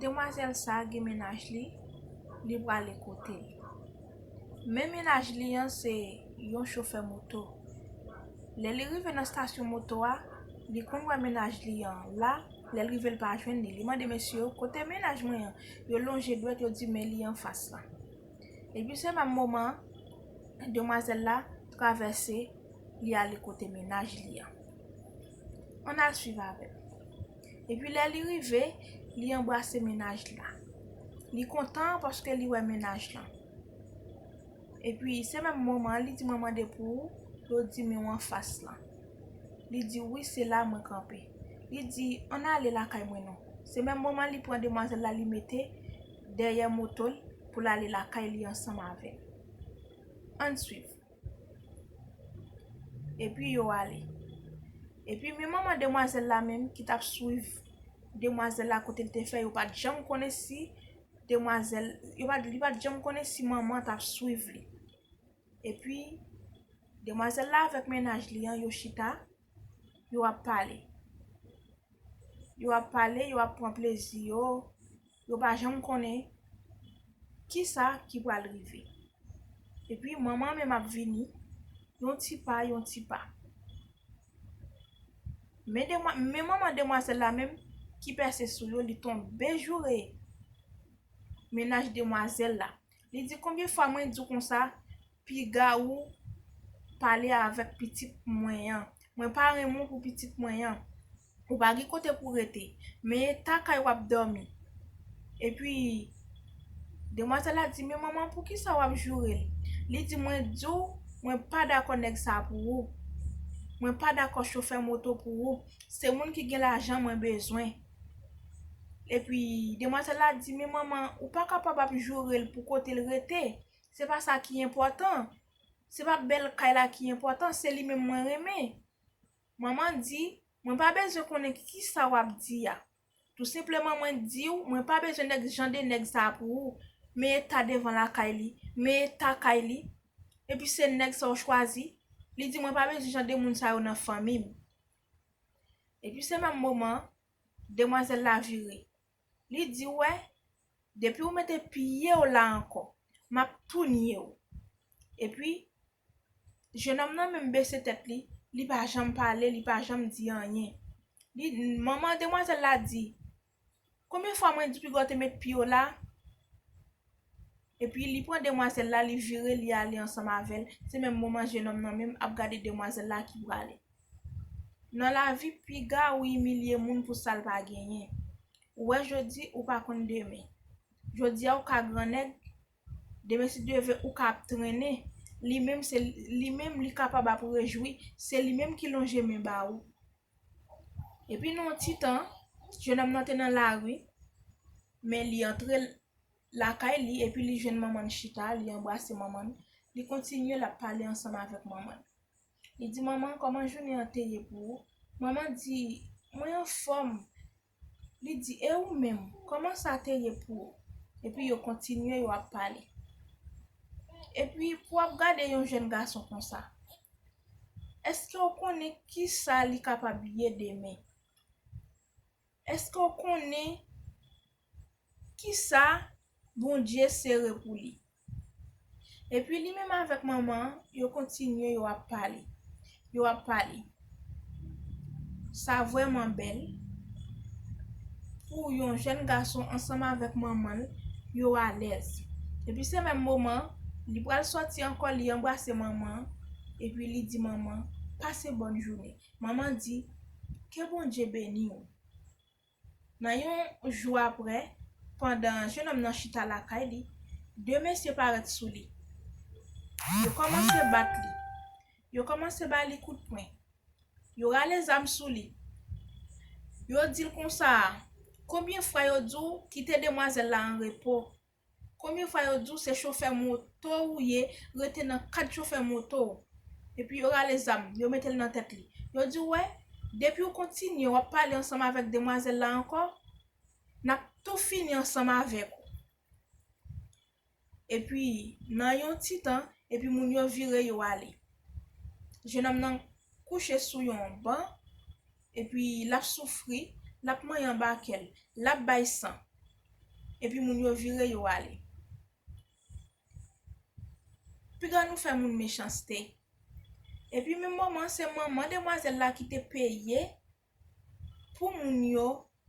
Demwazèl sa gen mennaj li, li prale kote l. Men mennaj li an se yon chofè moto. Lè li rive nan stasyon moto a, li konn wè mennaj li an la, lè l rive l pa jwenn li. Li mande mesye yo, kote mennaj mwen an? Yo lonje dwèt yo di men li anfas la. Epi se menm moman demwazèl la travèse li ale kote mennaj li an. An al swiv avè l. Epi lè li rive, li anbrase mennaj la. Li kontan paske li wè mennaj lan. Epi se menm moman an li di mwen mande pou ou, yo di men w anfas lan. Li di wi se la mwen kanpe. Li di an ale lakay mwen non. Se menm moman li pran demwazèl la li mete dèyè moto l pou l ale lakay li ansanm avè l. An swiv. Epi yo ale. Epi men manman demwazèl la menm ki tap swiv demwazèl la kote l te fè yo pat janm konnen si demwazèl, yo pat, li pat janm konnen si manman an tap swiv li. Epi demwazèl la avèk mennaj li an yo chita, yo ap pale. Yo ap pale, yo ap pran plezi yo. Yo pa janm konnen kisa ki pral rive. Epi manman menm ap vini yon ti pa yon ti pa. Men demwa, men manman demwazèl la menm ki pèse sou yo li tonbe joure mennaj demwazèl la. Li di konbyen fwa mwen di w konsa Piga ou pale avèk pitit mwen an. Mwen pa renmen w pou pitit mwen an. Ou pa gen kote pou w rete. Men eta kay w ap dòmi. Epi, demwazèl la di, men manman poukisa w ap joure l? Li di, mwen di w, mwen pa dakò nèg sa pou ou. Mwen pa dakò chofè moto pou ou. Se moun ki gen lajan mwen bezwen. Epi, demwazèl la di, men manman, ou pa kapab ap joure l pou kote l rete. Se pa sa ki enpòtan. Se pa bèl kay la ki enpòtan, se li menm mwen renmen. Mama di, Mwen pa bezwen konnen ki sa w ap di a. Tou senpleman mwen di w mwen pa bezwen nèg jan de nèg sa a pou ou. Men eta devan lakay li. Men eta kay li. Epi se nèg sa w chwazi. Li di mwen pa bezwen jan de moun sa yo nan fanmi m. Epi se menm moman an, demwazèl la vire. Li di wè, depi ou mete pye w la ankò, m ap tou nye w. Epi, jenòm nan menm bese tèt li, li pa janm pale, li pa janm di anyen. Li, manman demwazèl la di, konbyen fwa mwen di piga w te met pye w la? Epi li pran demwazèl la, li vire li ale ansanm avè l, se menm moman jenòm nan menm ap gade demwazèl la ki prale. Nan lavi piga ou imilye moun pou sal pa genyen. Ou wè jodi ou pa konn demen. Jodia ou ka gran nèg demen si Dye ve ou ka ap trennen li menm se li menm li kapab ap rejwi se li menm ki lonje men ba ou. Epi nan yon ti tan jenòm nan te nan lari men li antre lakay li epi li jwenn manman chita li anbrase manman li kontinye lap pale ansanm avèk manman. Li di manman kòman jounen an te ye pou ou? Manman di, mwen anfòm. Li di, e ou menm, kòman sa te ye pou ou? Epi yo kontinye yo ap pale. Epi pou ap gade yon jèn gason konsa, èske ou konnen ki sa li kapab ye demen? Èske ou konnen kisa Bondye sere pou li. Epi li menm avèk manman an, yo kontinye yo ap pale. Yo ap pale. Sa vrèman bèl pou yon jèn gason ansanm avèk manman l, yo alèz. Epi se menm moman, li pral sòti ankò, li anbrase manman an, epi li di manman, pase bòn jounen. Manman di, ke Bondye beni ou. Nan yon jou apre, pandan jenòm nan chita lakay li, de mesye parèt sou li. Yo kòmanse bat li. Yo kòmanse ba li kout pwen. Yo rale zam sou li. Yo di l konsa, Konbyen fwa yo di w kite demwazèl la anrepo? Konbyen fwa yo diw se chofè moto ou ye rete nan kad chofè moto ou epi yo rale zam yo metel nan tèt li yo diw wè depiw kontinye wap pale ansanm avèk demwazèl la ankò nap tou fini ansanm avèk ou epi nan yon ti tan epi moun yo vire yo ale jenòm nan kouche sou yon ban epi lap soufri lap manyen anba kèl lap bay san epi moun yo vire yo ale. Piga nou fè moun mechanste. Epi menm moman se manman demwazèl la ki te peye pou moun yo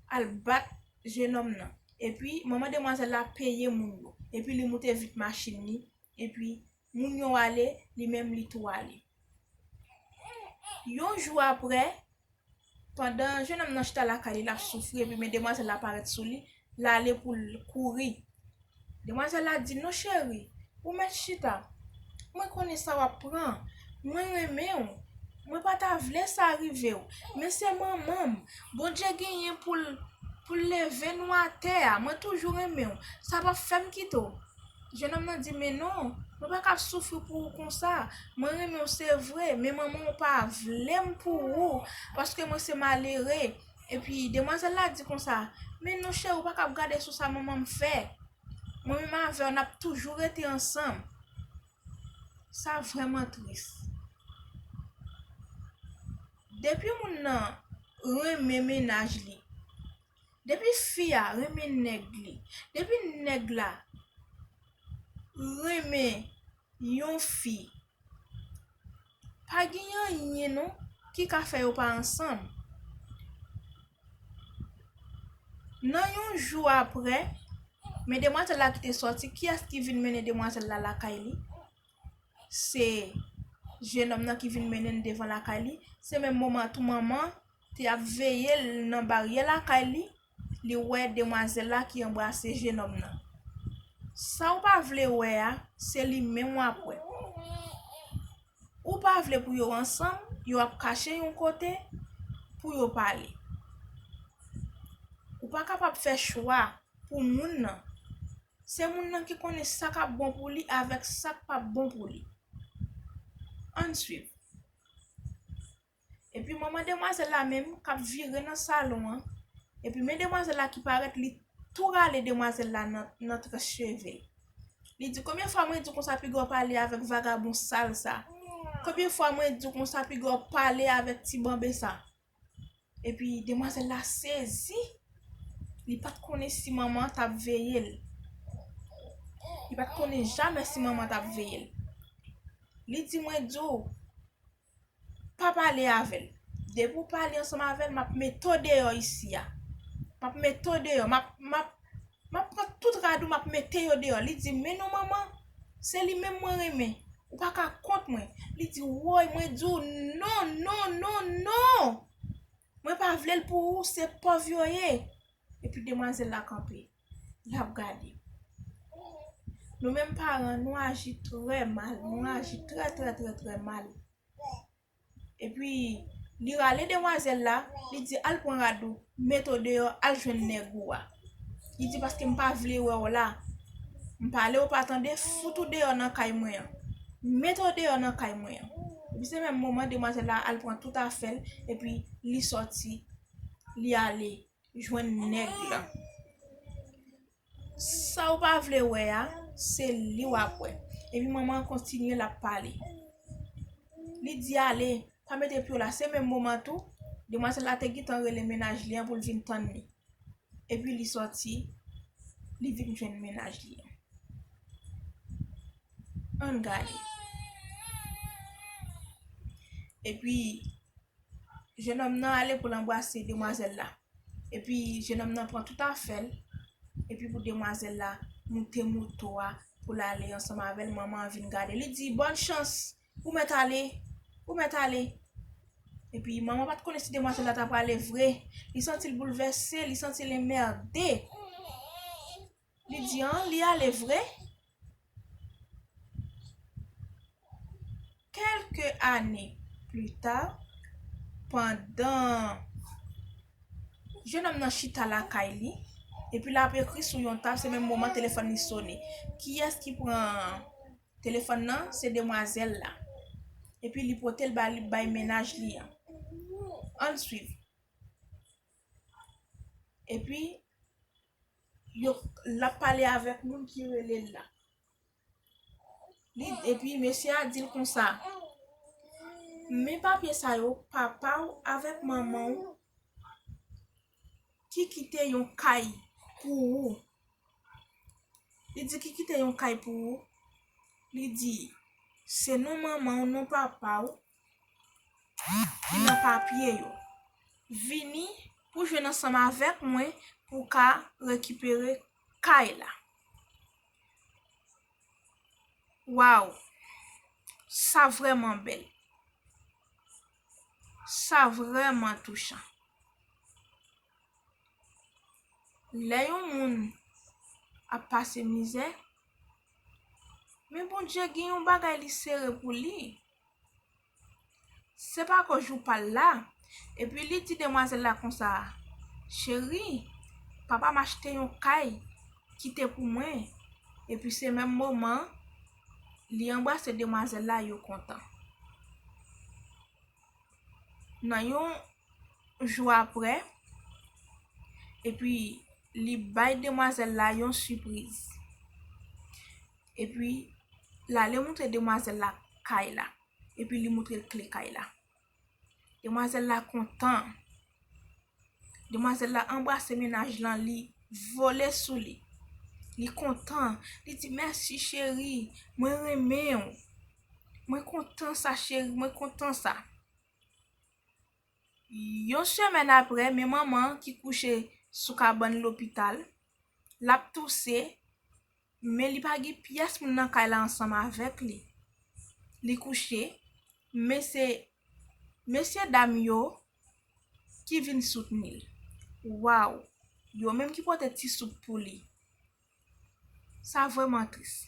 al bat jenòm nan. Epi manman demwazèl la peye moun yo. Epi li moute vit machin li, epi Moun yo ale, li menm li tou ale. Yon jou apre, pandan jenòm nan chita lakay li l ap soufri epi men demwazèl la parèt sou li, l ale pou l kouri. Demwazèl la di l, non cheri, ou mèt chita, mwen konnen sa w ap pran, mwen renmen w, mwen pa ta vle sa rive w, men se manman m, Bondye genyen pou l leve nou atè a, mwen toujou renmen w, sa p ap fè m kite w. Jenòm nan di, Men non, mwen pa ka soufri pou ou konsa. Mwen renmen ou se vre, men manman ou pa vle m pou ou, paske mwen se malere. Epi, demwazèl la di konsa, Men non cheri, ou pa kab gade sou sa manman m fè. Mwen menm avè w, n ap toujou rete ansanm. Sa vrèman tris. Depi moun nan renmen mennaj li. Depi fi a renmen nèg li. Depi nèg la renmen yon fi pa gen anyen non ki ka fè yo pa ansanm. Nan yon jou aprè men demwazèl la ki te sòti kiyès ki vin mennen demwazèl la lakay li? Se jenòm nan ki vin mennen l devan lakay li, se menm moman tou manman te ap veye l nan baryè lakay li, li wè demwazèl la ki anbrase jenòm nan. Sa w pa vle wè a, se li menm w ap wè. Ou pa vle pou yo ansanm, yo ap kache yon kote pou yo pale. Ou pa kapab fè chwa pou moun nan. Se moun nan ki konnen sa k ap bon pou li avèk sa k pap bon pou li. Ann swiv. Epi mwen mwen demwazèl la menm kap vire nan salon an. Epi men demwazèl la ki parèt li tou rale demwazèl la nan tres cheve. Li di konbyen fwa mwen di w konsa piga w pale avèk vagabon sal sa. Konbyen fwa mwen di w konsa piga w pale avèk ti banbe sa. Epi demwazèl la sezi. Li pat konnen si manman an tap veye l. Li pat konnen jamè si manman an tap veye l. Li di mwen di w. Pa pale avè l. Depi w pale ansanm avè l, m ap mete w deyò isi a. M ap mete w deyò. M ap pran tout rad ou, m ap mete yo deyò. Li di, Men non manman, se li menm mwen renmen. Ou pa ka kont mwen. Li di, Woy, mwen di w non, non, non, non! Mwen pa vlel pou ou se pòv yo ye. Epi demwazèl la kanpe lap gade. Nou menm paran nou aji trè mal, nou aji trè trè trè trè mal. Epi li rale demwazèl la, li di al pran rad ou, met ou deyò al jwenn nèg ou a. Li di paske m pa vle wè w la. M pale ou pa tande, fout ou deyò nan kay mwen an. M mete w deyò nan kay mwen an. Epi se menm moman demwazèl la al pran tout afè l epi li sòti, li ale jwenn nèg lan. Sa ou pa vle wè a, se li w ap wè. Epi manman an kontinye l ap pale. Li di ale, pa mete pye w la. Se menm moman tou, demwazèl la te gentan rele mennaj li an pou l vin tann li. epi li sòti li vin jwenn mennaj li an ann gade epi jenòm nan ale pou l anbrase demwazèl la epi jenòm nan pran tout afè l epi pou demwazèl la moute moto a pou l ale ansanm avè l manman an vin gade li di bòn chans Ou mèt ale, ou mèt ale. Epi, manman pa t konnen si demwazèl la ta prale vre. Li santi l boulvèse, li santi l enmède. Li di, an, li ale vre? Kèlke ane plita, pandan jenòm nan chita lakay li, epi l ap ekri sou yon tab, se menm moman telefòn li sone. Kiyès ki pran? Telefòn nan se demwazèl la. Epi li potel ba li bay mennaj li an. Ann swiv. Epi yo lap pale avèk moun ki rele l la. Li epi mesye a dil konsa. Men papye sa yo papaw avèk manmanw ki kite yon kay pou ou, li di ki kite yon kay pou ou, li di se non manman w, non papa w ki nan papye yo. Vini pou jwenn ansanm avèk mwen pou w ka rekipere kay la. Waww sa vrèman bèl. Sa vrèman touchan. Lè yon moun ap pase mizè, men Bondye gen yon bagay li sere pou li. Se pa ko jou pa l la, epi li di demwazèl la konsa, Cheri, papa m achte yon kay, kite pou mwen, epi se menm moman Li anbrase demwazèl la yo kontan. Nan yon jou apre, epi li bay demwazèl la yon sipriz. Epi, l ale moutre demwazèl la kay la. Epi li moutre l kle kay la. Demwazèl la kontan. Demwazèl la anbrase mennaj lan li vole sou li. Li kontan. Li di mèsi cheri. Mwen renmen ou. Mwen kontan sa cheri. Mwen kontan sa. Yon semèn apre men manman ki kouche sou kabann lopital. Lap touse. Men li pa gen pyès moun nan kay la ansanm avèk li. Li kouche, men se mesye dam yo ki vin soutni l. Waw! Yo menm ki pote ti soup pou li. Sa vrèman tris.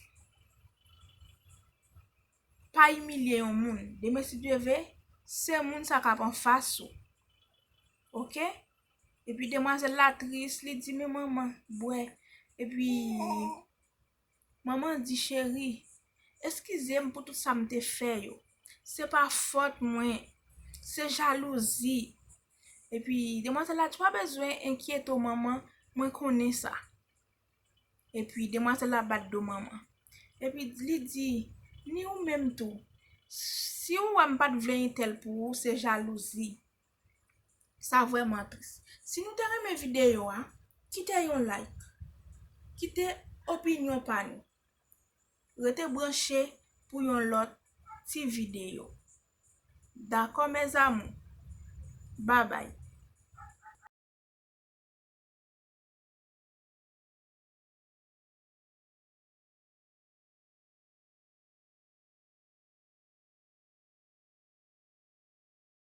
Pa imilye yon moun. Demen si Dye ve, se moun sa k ap anfas ou. Ok? Epi demwazèl la tris, li di men manman bwè. Epi manman di cheri, eskize m pou tout sa m te fè yo. Se pa fòt mwen, se jalouzi. Epi demwazèl la di pa bezwen enkyete w manman, mwen konnen sa. Epi demwazèl la bat do manman. Epi li di, ni ou menm tou, si ou wè m pa t vle entèl pou ou, se jalouzi. Sa vrèman tris. Si nou te renmen videyo a, kite yon like. Kite opinyon pa nou. Rete branche pou yon lòt ti videyo. Dakò mes amour. Babay.